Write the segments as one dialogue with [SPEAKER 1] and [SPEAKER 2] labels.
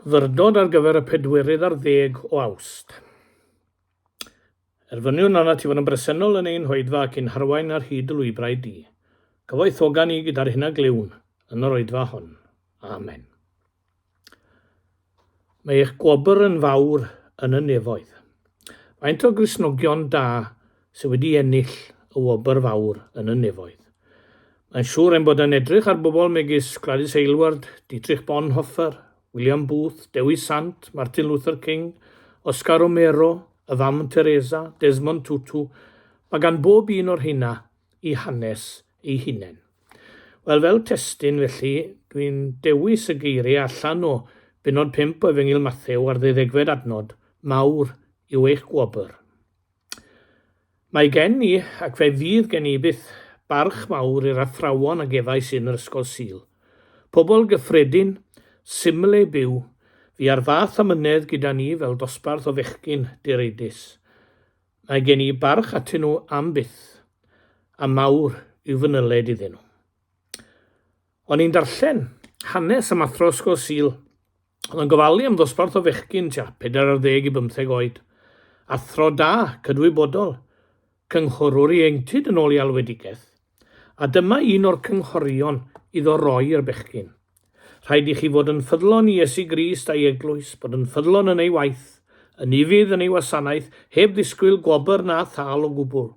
[SPEAKER 1] Ddiwrnod ar gyfer y pedwerydd ar ddeg o Awst. Erfyniwn arnat ti fod yn bresennol yn ein hoedfa ac i'n harwain ar hyd y lwybrau di. Cyfoethoga ni gyda'r hyn a glywn yn yr oedfa hon. Amen. Mae eich gwobr yn fawr yn y nefoedd. Faint o Gristnogion da sydd wedi ennill y wobr fawr yn y nefoedd? Mae'n siŵr ein bod yn edrych ar bobl megis Gladys Aylward, Dietrich Bonhoeffer, William Booth, Dewi Sant, Martin Luther King, Oscar Romero, y fam Teresa, Desmond Tutu, mae gan bob un o'r rheina i hanes ei hunain. Wel, fel testun, felly, dwi'n dewis y geiriau allan o benod 5 o Efengyl Mathew ar ddeuddegfed adnod, Mawr yw eich gwobr. Mae gen i, ac fe fydd gen i byth, barch mawr i'r athrawon a gefais yn yr Ysgol Sul. Pobl gyffredin, symle byw, fu ar fath amynedd gyda ni fel dosbarth o fechgyn direidus. Mae gen i barch atyn nhw am byth, a mawr yw fy nyled iddyn nhw. O'n i'n darllen hanes am athro Ysgol Sul. Oedd yn gofalu am ddosbarth o fechgyn tua pedair ar ddeg i bymtheg oed. Athro da, cydwybodol, cynghorwr ieuenctid yn ôl ei alwedigaeth. A dyma un o'r cynghorion iddo roi i'r bechgyn. Rhaid i chi fod yn ffyddlon i Iesu Grist a'i Eglwys, bod yn ffyddlon yn ei waith, yn ufudd yn ei wasanaeth, heb ddisgwyl gwobr na thâl o gwbl.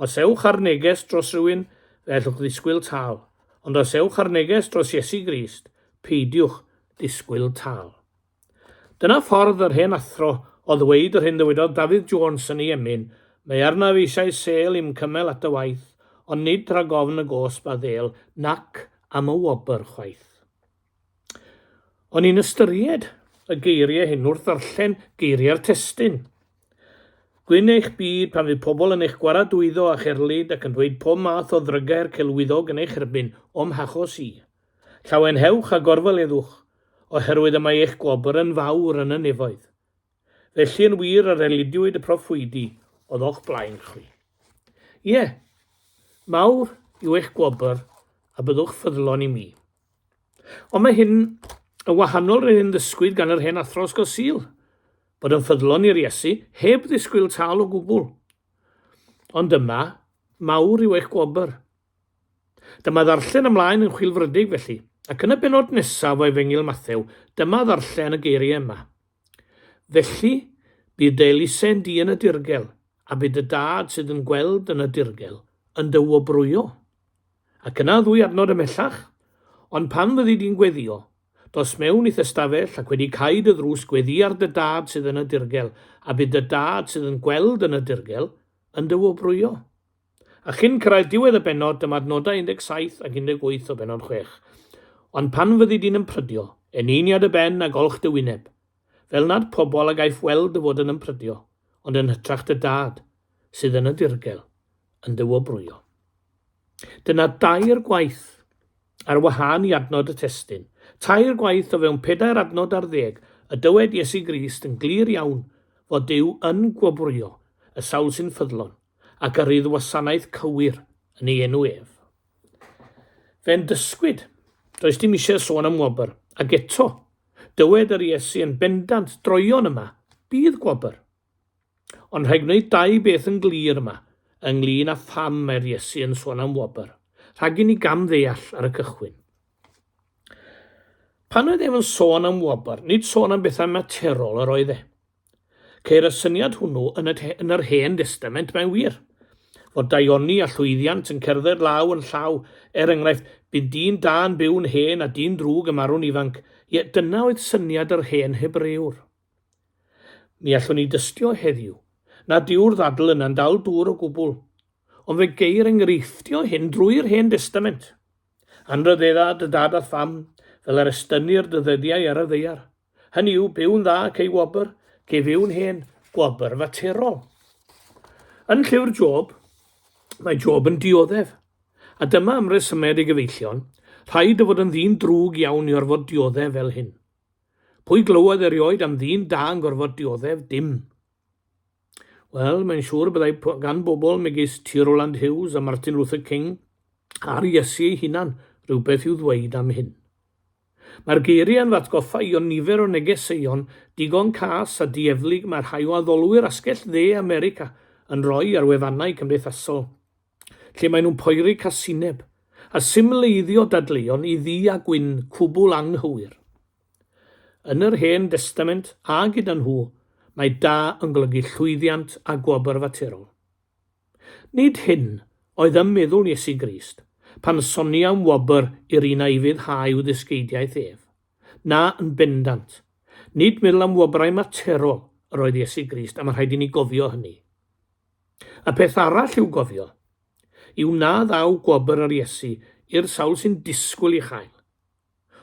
[SPEAKER 1] Os ewch â'r neges dros rywun, fe ellwch ddisgwyl tâl. Ond os ewch â'r neges dros Iesu Grist, peidiwch ddisgwyl tâl. Dyna ffordd yr hen athro o ddweud yr hyn ddywedodd Dafydd Jones yn ei emyn, Mae arnaf eisiau sêl i'm cymell at dy waith, ond nid rhag ofn y gosb a ddêl nac am y wobr chwaith. O'n i'n ystyried y geiriau hyn wrth ddarllen geiriau'r testun. Gwyn eich byd pan fydd pobl yn eich gwaradwyddo a cherlid ac yn dweud pob math o ddrygau'r celwyddog yn eich erbyn, o'm hachos i. Llawenhewch a gorfoleddwch, oherwydd y mae eich gwobr yn fawr yn y nefoedd. Felly yn wir yr elidiwyd y proffwydi oedd o'ch blaen chwi. Ie, mawr yw eich gwobr, a byddwch ffyddlon i mi. Ond mae hyn yn wahanol i'r hyn ddysgwyd gan yr hen athro ysgol Sul, bod yn ffyddlon i'r Iesu heb ddisgwyl tâl o gwbl. Ond dyma, mawr yw eich gwobr. Dyma ddarllen ymlaen yn chwilfrydig felly, ac yn y bennod nesaf o Efengyl Mathew, dyma ddarllen y geiriau yma. Felly, bydd dy elusen di yn y dirgel, a bydd dy dad sydd yn gweld yn y dirgel, yn dy wobrwyo. Ac yna ddwy adnod ymhellach, Ond pan fyddi di'n gweddio, dos mewn i'th ystafell ac wedi cau dy ddrws gweddi ar dy dad sydd yn y dirgel, a bydd dy dad sydd yn gweld yn y dirgel, yn dy wobrwyo. A chyn cyrraedd diwedd y bennod, dyma'r nodau 17 ac 18 o bennod chwech. Ond pan fyddi di'n ymprydio, eneini ar dy ben a golch dy wyneb, fel nad pobl a gaiff weld dy fod yn ymprydio, ond yn hytrach dy Dad, sydd yn y ddirgel, yn dy wobrwyo. Dyna dair gwaith, ar wahân i adnod y testun, tair gwaith o fewn pedair adnod ar ddeg, y dywed Iesu Grist yn glir iawn fod Duw yn gwobrwyo y sawl sy'n ffyddlon, a gyrru'r wasanaeth cywir yn ei enw ef. Fe'n dysgwyd, does dim eisiau sôn am wobr, ac eto, dywed yr Iesu yn bendant, droion yma, bydd gwobr. Ond rhaid gwneud dau beth yn glir yma, ynglyn â pham mae'r Iesu yn sôn am wobr, rhag i ni gam ddeall ar y cychwyn. Pan oedd ef yn sôn am wobr, nid sôn am bethau materol yr oedd e. Ceir y syniad hwnnw yn y yn yr Hen Destament, mae'n wir, fod daioni a llwyddiant yn cerdded law yn llaw, er enghraifft, bu'n dyn da yn byw'n hen a dyn drwg yn marw'n ifanc, ie, dyna oedd syniad yr hen Hebrewr. Mi allwn ni dystio heddiw nad yw'r ddadl yna'n dal dŵr o gwbl, ond fe geir enghreifftiau hyn drwy'r Hen Destament. Anrhyddedda dy dad a'th fam, fel yr estynnir dy ddyddiau ar y ddaear. Hynny yw, byw'n dda cei wobr, cei fyw'n hen gwobr faterol. Yn llyfr Job, mae Job yn dioddef. A dyma am resymed ei gyfeillion, rhaid o fod yn ddyn drwg iawn i orfod dioddef fel hyn. Pwy glywodd erioed am ddyn da yn gorfod dioddef? Dim. Wel, mae'n siŵr y byddai gan bobl megis T. Rowland Hughes a Martin Luther King a'r Iesu ei hunan rhywbeth i'w ddweud am hyn. Mae'r geiriau yn fy atgoffa i o nifer o negeseuon digon cas a dieflig mae rhai o addolwyr asgell dde America yn rhoi ar wefannau cymdeithasol. lle maen nhw'n poeri casineb a symleiddio dadleuon i ddu a gwyn cwbl anghywir. Yn yr Hen Destament, a gyda nhw, mae da yn golygu llwyddiant a gwobr faterol. Nid hyn oedd ym meddwl Iesu Grist pan sonia am wobr i'r un a'i fuddhau i'w ddysgeidiaeth ef. Na, yn bendant, nid meddwl am wobrau materol yr oedd Iesu Grist a mae rhaid i ni gofio hynny. Y peth arall i'w gofio yw na ddaw gwobr yr Iesu i'r sawl sy'n disgwyl ei chael.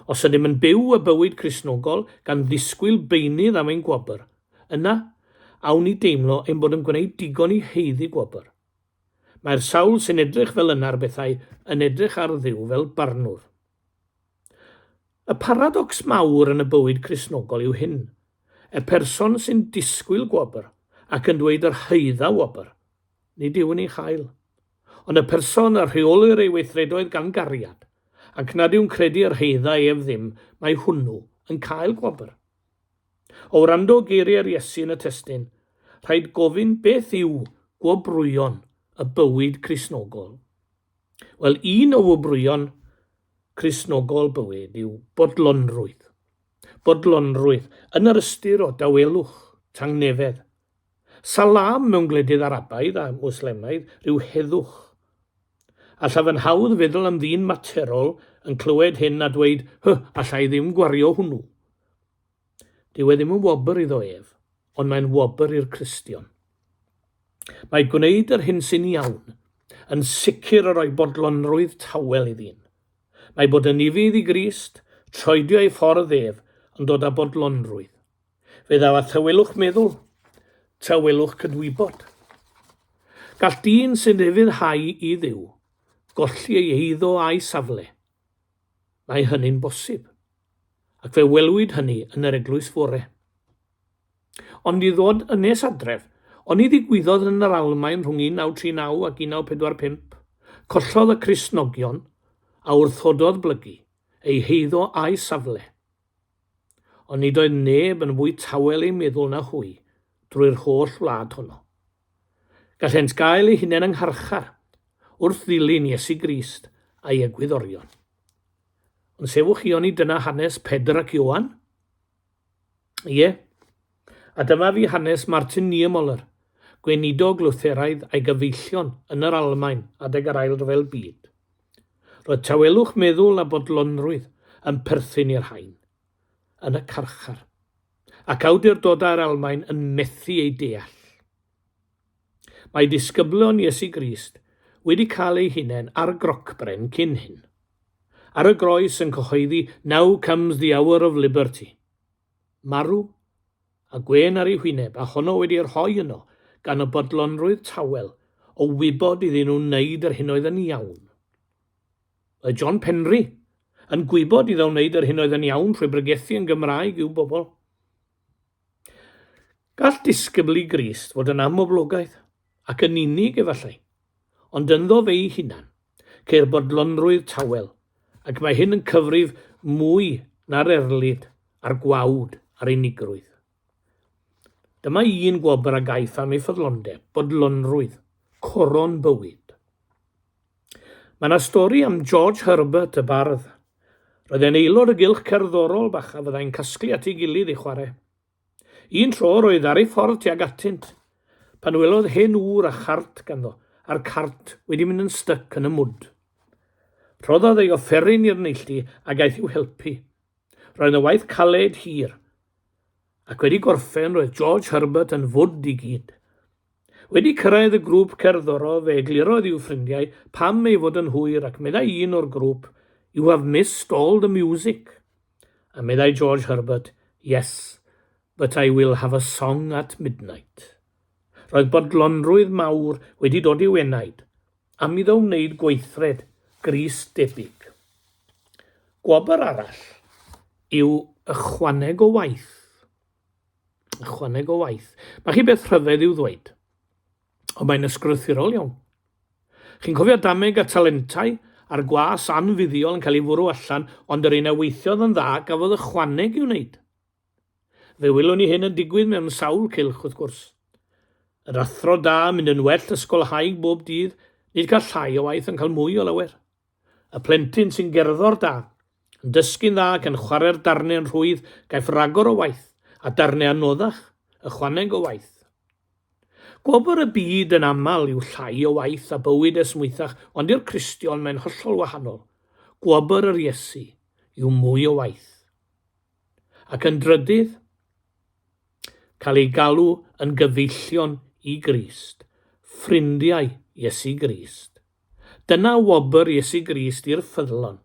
[SPEAKER 1] Os ydym yn byw y bywyd Cristnogol gan ddisgwyl beunydd am ein gwobr, yna awn ni deimlo ein bod yn gwneud digon i haeddu gwobr. Mae'r sawl sy'n edrych fel yna ar bethau yn edrych ar Dduw fel barnwr. Y paradocs mawr yn y bywyd Cristnogol yw hyn, Y person sy'n disgwyl gwobr ac yn dweud yr haedda wobr, nid yw'n ei chael. Ond y person a rheolir ei weithredoedd gan gariad, ac nad yw'n credu yr haedda ef ddim, mae hwnnw yn cael gwobr. O wrando geiriau'r Iesu yn y testyn, rhaid gofyn beth yw gwobrwyon y bywyd Cristnogol. Wel, un o wobrwyon Cristnogol bywyd yw bodlonrwydd. bodlonrwydd yn yr ystyr o dawelwch, tangnefedd. Salam mewn gwledydd Arabaidd a Mwslemaidd rhyw heddwch. Allaf yn hawdd feddwl am ddyn materol yn clywed hyn a dweud, Hy, alla i ddim gwario hwnnw. Dyw e ddim yn wobr iddo ef, ond mae'n wobr i'r Cristion. Mae gwneud yr hyn sy'n iawn yn sicr yn rhoi bodlonrwydd tawel i ddyn. Mae bod yn ufudd i Grist, troedio ei ffordd ef, yn dod â bodlonrwydd. Fe ddaw â thawelwch meddwl, tawelwch cydwybod. Gall dyn sy'n ufuddhau i Dduw golli ei eiddo a'i safle. Mae hynny'n bosib. Ac fe welwyd hynny yn yr eglwys fore. Ond i ddod yn nes adref, oni ddigwyddodd yn yr Almaen rhwng 1939 ac 1945, collodd y Cristnogion a wrthododd blygu, eu heiddo a'u safle. Ond nid oedd neb yn fwy tawel eu meddwl na hwy drwy'r holl wlad honno. Gallent gael eu hunain yng ngharchar wrth ddilyn Iesu Grist a'i egwyddorion. Ond sefwch chi oni dyna hanes Pedr ac Ioan? Ie. A dyma fi hanes Martin Niemöller, gweinidog Lutheraidd a'i gyfeillion yn yr Almaen adeg yr Ail Ryfel Byd. Roedd tawelwch meddwl a bodlonrwydd yn perthyn i'r rhain. Yn y carchar. Ac awdurdodau'r Almaen yn methu eu deall. Mae disgyblion Iesu Grist wedi cael eu hunain ar grocbren cyn hyn. Ar y groes yn cyhoeddi 'Now comes the hour of liberty'. Marw, a gwên ar ei hwyneb a honno wedi ei rhoi yno gan y bodlonrwydd tawel o wybod iddyn nhw wneud yr hyn oedd yn iawn. Mae John Penri yn gwybod iddo wneud yr hyn oedd yn iawn trwy bregethu yn Gymraeg i'w bobl. Gall disgybl i Grist fod yn amhoblogaidd, ac yn unig efallai, ond ynddo fe'i hunan, ceir bodlonrwydd tawel, ac mae hyn yn cyfrif mwy na'r erlid a'r gwawd a'r unigrwydd. Dyma un gwobr a gaiff am ei ffyddlondeb, bodlonrwydd, coron bywyd. Mae 'na stori am George Herbert, y bardd. Roedd e'n aelod o gylch cerddorol bach a fyddai'n casglu at ei gilydd i chwarae. Un tro roedd ar ei ffordd tuag atynt, pan welodd hen ŵr a chart ganddo, a'r cart wedi mynd yn styc yn y mwd. Rhoddodd ei offeryn i'r neilltu a gaeth i'w helpu. Roedd 'na waith caled hir, ac wedi gorffen roedd George Herbert yn fwd i gyd. Wedi cyrraedd y grŵp cerddorol fe eglurodd i'w ffrindiau pam ei fod yn hwyr ac meddai un o'r grŵp, You have missed all the music. A meddai George Herbert, Yes, but I will have a song at midnight. Roedd bodlonrwydd mawr wedi dod i'w enaid, am iddo wneud gweithred gris debyg. Gwobr arall yw ychwaneg o waith. Ychwaneg o waith. Mae chi beth rhyfedd i'w ddweud. Ond mae'n ysgrythurol iawn. Chi'n cofio dameg a talentau a'r gwas anfuddiol yn cael ei fwrw allan ond yr un a weithiodd yn dda gafodd ychwaneg i'w wneud. Fe wylwn ni hyn yn digwydd mewn sawl cylch wrth gwrs. Yr athro da yn mynd yn well ysgolhaig bob dydd, nid cael llai o waith ond cael mwy o lawer. Y plentyn sy'n gerddor da, yn dysgu'n dda ac yn chwarae'r darnau yn rhwydd gaiff ragor o waith, a darnau anoddach, ychwaneg o waith. Gwobr y byd yn aml yw llai o waith a bywyd esmwythach ond i'r Cristion mae'n hollol wahanol, gwobr yr Iesu yw mwy o waith. Ac yn drydydd, cael eu galw yn gyfeillion i Grist, ffrindiau Iesu Grist. Dyna wobr Iesu Grist i'r ffyddlon,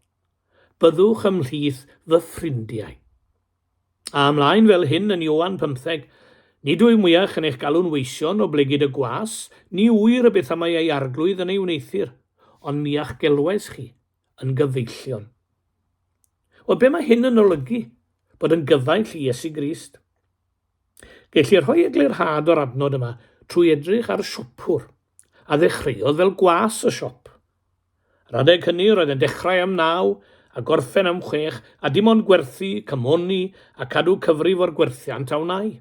[SPEAKER 1] Byddwch ymhlith fy ffrindiau. A ymlaen fel hyn yn Ioan pymtheg, Nid wyf mwyach yn eich galw'n weision, oblegid y gwas, ni ŵyr y beth amau ei arglwydd yn ei wneuthur, ond miach gelwais chi, yn gyfeillion. Wel, be mae hyn yn olygu? Bod yn gyfaill i Iesu Grist. Gellir rhoi eglurhad o'r adnod yma trwy edrych ar siopwr, a ddechreuodd fel gwas y siop. Yr adeg hynny roedd yn dechrau am naw a gorffen am chwech a dim ond gwerthu, cymoni a cadw cyfrif o'r gwerthiant a wnai.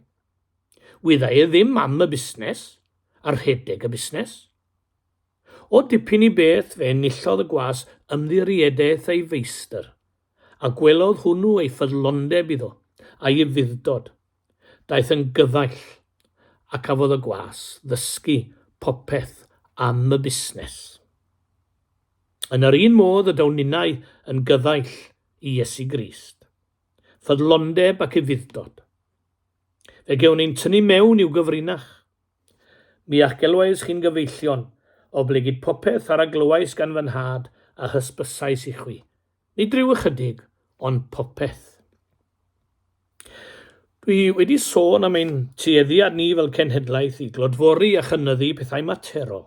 [SPEAKER 1] Wydda e ddim am y busnes a rhedeg y busnes. O dipyn i beth fe enillodd y gwas ymddiriedaeth ei feistr, a gwelodd hwnnw ei ffyddlondeb iddo, a'i ufudd-dod. Daeth yn gyfaill, a cafodd y gwas ddysgu popeth am y busnes. Yn yr un modd y daw ninnau yn gyfaill i Iesu Grist. Ffyddlondeb ac ufudd-dod. Fe gewn ein tynnu mewn i'w gyfrinach, Mi a'ch gelwais chi'n gyfeillion, oblegid popeth ar a glywais gan fy nhad a hysbysais i chwi. Nid rhyw ychydig, ond popeth. Dwi wedi sôn am ein tueddiad ni fel cenhedlaeth i glodfori a chynyddu pethau materol.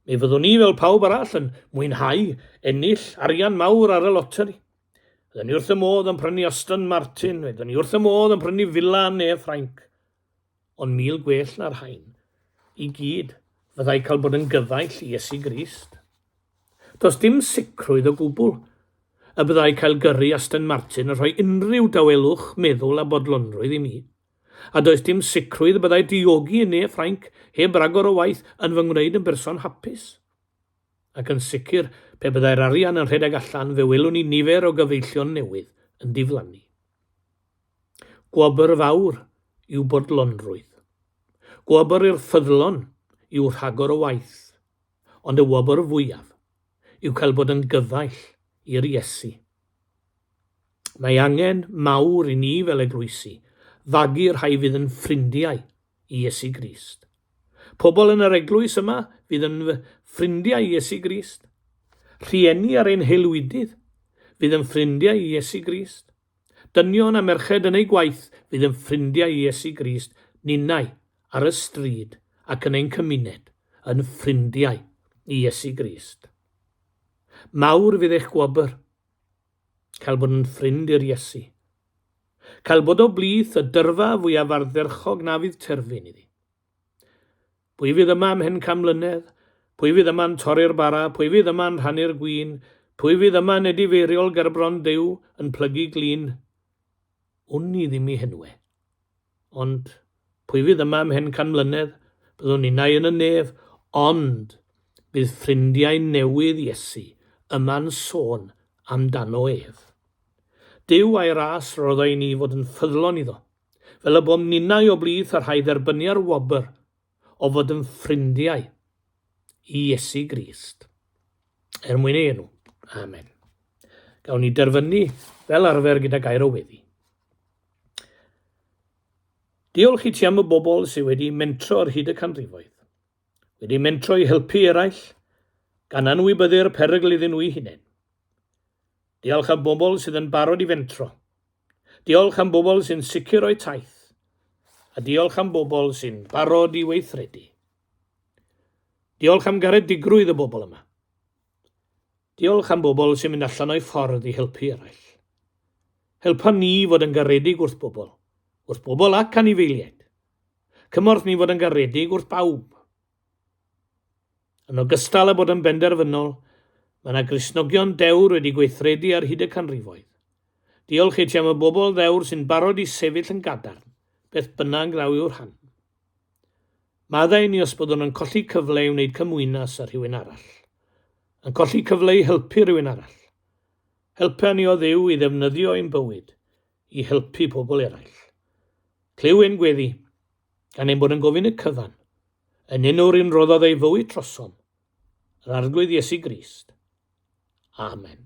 [SPEAKER 1] Mi fyddwn ni fel pawb arall yn mwynhau ennill arian mawr ar y loteri. Fyddwn ni wrth y modd yn prynu Aston Martin, fyddwn ni wrth y modd yn prynu fila yn Ne Ffrainc. Ond mil gwell na'r rhain i gyd fyddai cael bod yn gyfaill i Iesu Grist. Does dim sicrwydd o gwbl y byddai cael gyrru Aston Martin yn rhoi unrhyw dawelwch meddwl a bodlonrwydd i mi, a does dim sicrwydd y byddai diogi yn ne Ffrainc heb ragor o waith yn fy ngwneud yn berson hapus. Ac yn sicr, pe byddai'r arian yn rhedeg allan fe welwn ni nifer o gyfeillion newydd yn diflannu. Gwobr fawr yw bodlonrwydd. Gwobr i'r ffyddlon yw rhagor o waith, ond y wobr fwyaf yw cael bod yn gyfaill i'r Iesu. Mae angen mawr i ni fel eglwysi fagu rhai fydd yn ffrindiau i Iesu Grist. Pobl yn yr eglwys yma fydd yn ffrindiau i Iesu Grist. Rhieni ar ein haelwydydd fydd yn ffrindiau i Iesu Grist. Dynion a merched yn eu gwaith fydd yn ffrindiau i Iesu Grist. Ninnau, ar y stryd ac yn ein cymuned, yn ffrindiau i Iesu Grist. Mawr fydd eich gwobr. Cael bod yn ffrind i'r Iesu. Cael bod o blith y dyrfa fwyaf ardderchog na fydd terfyn iddi. Pwy fydd yma ymhen can mlynedd? Pwy fydd yma'n torri'r bara? Pwy fydd yma'n rhannu'r gwin? Pwy fydd yma'n edifeiriol gerbron Duw, yn plygu glin? Wn i ddim i henwe. Ond, pwy fydd yma ymhen can mlynedd? Byddwn innau yn y nef, ond bydd ffrindiau newydd Iesu yma'n sôn amdano ef. Duw a'i ras roddai ni fod yn ffyddlon iddo, fel y bom ninnau o blith y rhai dderbynia'r wobr o fod yn ffrindiau i Iesu Grist, er mwyn ei enw. Amen. Gawn ni derfynu fel arfer gyda gair o weddi. Diolch i ti am y bobl sydd wedi mentro ar hyd y canrifoedd, wedi mentro i helpu eraill, gan anwybyddu'r perygl iddyn nhw'i hunain. Diolch am bobl sydd yn barod i fentro, Diolch am bobl sy'n sicr o'u taith, a diolch am bobl sy'n barod i weithredu. Diolch am garedigrwydd y bobl yma. Diolch am bobl sy'n mynd allan o'i ffordd i helpu eraill. Helpa ni fod yn garedig wrth bobl, wrth bobl ac anifeiliaid. Cymorth ni fod yn garedig wrth bawb, Yn ogystal â bod yn benderfynol, mae yna Gristnogion dewr wedi gweithredu ar hyd y canrifoedd. Diolch i ti am y bobl ddewr sy'n barod i sefyll yn gadarn, beth bynnag ddaw i'w rhan. Maddau ni os byddwn yn colli cyfle i wneud cymwynas â rhywun arall. Yn colli cyfle i helpu rhywun arall. Helpa ni o Dduw i ddefnyddio ein bywyd i helpu pobl eraill. Clyw ein gweddi, gan ein bod yn gofyn y cyfan, yn un o'r un roddodd ei fywyd trosom, yr Arglwydd Iesu Grist. Amen.